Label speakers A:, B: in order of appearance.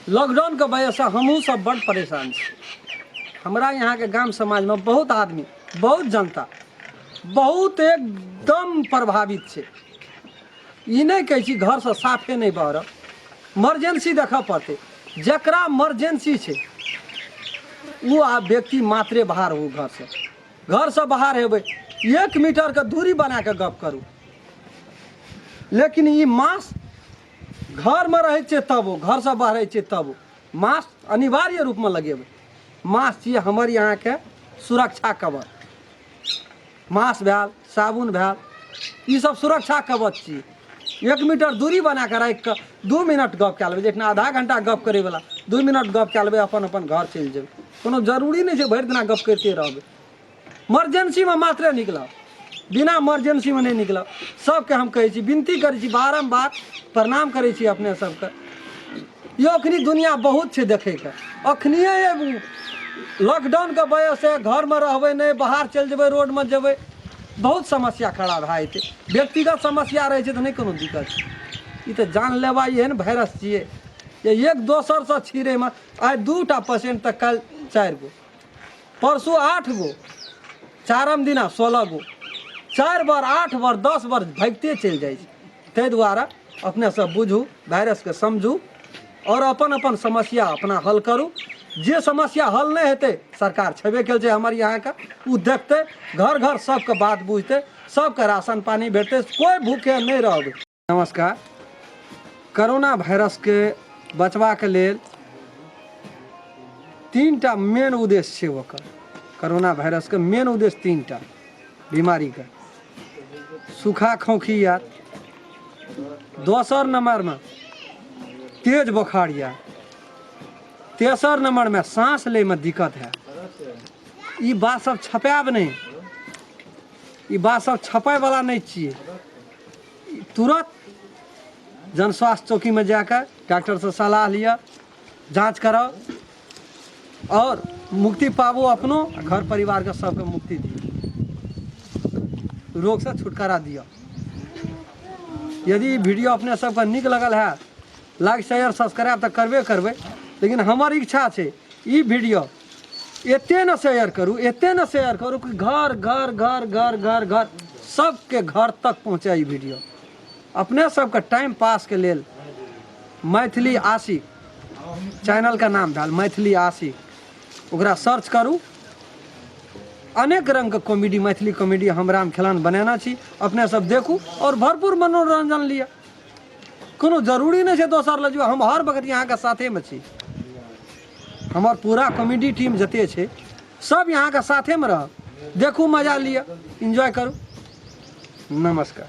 A: lockdown के वजह से हमहू सब बड़ परेशान छी हमरा यहाँ के गांव समाज में बहुत आदमी बहुत जनता बहुत एकदम प्रभावित छै ई नहि कहै छी घर से साफे नहि बहर मर्जेंसी देखऽ पड़तै जकरा मर्जेंसी छै ओ आ व्यक्ति मात्रे बाहर हो घर से घर से बाहर हेबै एक मीटर के दूरी बना के गप करू लेकिन ई मास्क घरमे रहै छियै तब ओ घरसँ बाहरै छियै तब ओ मास्क अनिवार्य रूपमे लगेबै मास्क छियै हमर यहाँके सुरक्षा कवच मास्क भेल साबुन भेल ईसब सुरक्षा कवच छी एक मीटर दूरी बना कऽ राखि कऽ दू मिनट गप कए लेबै जखन आधा घंटा गप करैवला दू मिनट गप कए लेबै अपन अपन घर चलि जेबै कोनो जरूरी नहि छै भरि दिना गप करिते रहबै मर्जेन्सीमे मात्रे निकलब बिना मर्जेन्सीमे नहि निकलब सभके हम कहै छी विनती करै छी बारम्बार प्रणाम करै छी अपने सभके यो अखनी दुनिया बहुत छै देखैके अखनिए लॉकडाउनके वजहसँ घरमे रहबै नहि बाहर चलि जेबै रोडमे जेबै बहुत समस्या खड़ा भए जेतै व्यक्तिगत समस्या रहै छै तऽ नहि कोनो दिक्कत छै ई तऽ जानलेवा एहन वायरस छियै जे एक दोसरसँ छिड़ैमे आइ दू टा पेशेंट तऽ काल्हि चारि गो परसू आठ गो चारम दिना सोलह गो चारि बार आठ बार दस बार भागिते चलि जाइ छै ताहि दुआरे अपने सब बुझू वायरसके समझू आओर अपन अपन समस्या अपना हल करू जे समस्या हल नहि हेतै सरकार छेबे कयल छै हमर यहाँके ओ देखतै घर घर सबके बात बुझतै सबके राशन पानि भेटतै कोइ भूखे नहि रहबै नमस्कार करोना भाइरसके बचबाक लेल तीन टा मेन उद्देश्य छै ओकर करोना भाइरसके मेन उद्देश्य तीन टा बीमारीके सूखा खोँखी आर दोसर नम्बरमे तेज बोखार यऽ तेसर नम्बरमे साँस लैमे दिक्कत है ई बात सब छपायब नहि ई बात सब छपायवला नहि छियै तुरत जनस्वास्थ्य चौकीमे जा कऽ डॉक्टरसँ सलाह लिअ जाँच कराउ आओर मुक्ति पाबू अपनो आ घर परिवारके सभके मुक्ति दिअ रोगसँ छुटकारा दिअ यदि ई वीडियो अपने सभके नीक लगल है लाइक शेयर सब्सक्राइब तऽ करबे करबै लेकिन हमर इच्छा छै ई वीडियो एते ना शेयर करू एते ना शेयर करू कि घर घर घर घर घर घर सबके घर तक पहुँचे ई वीडियो अपने सबके टाइम पास के लेल मैथिली आशिक चैनल का नाम भेल मैथिली आशिक ओकरा सर्च करू अनेक रंग के कॉमेडी मैथिली कॉमेडी हम राम खेलान बनेना छी अपने सब देखू और भरपूर मनोरंजन लिअ कोनो जरूरी नहि छै दोसर लग जो हम हर वक्त यहाँ के साथे में छी हमर पूरा कॉमेडी टीम जते छै सब यहाँ के साथे में रह देखू मजा लिया एंजॉय करू नमस्कार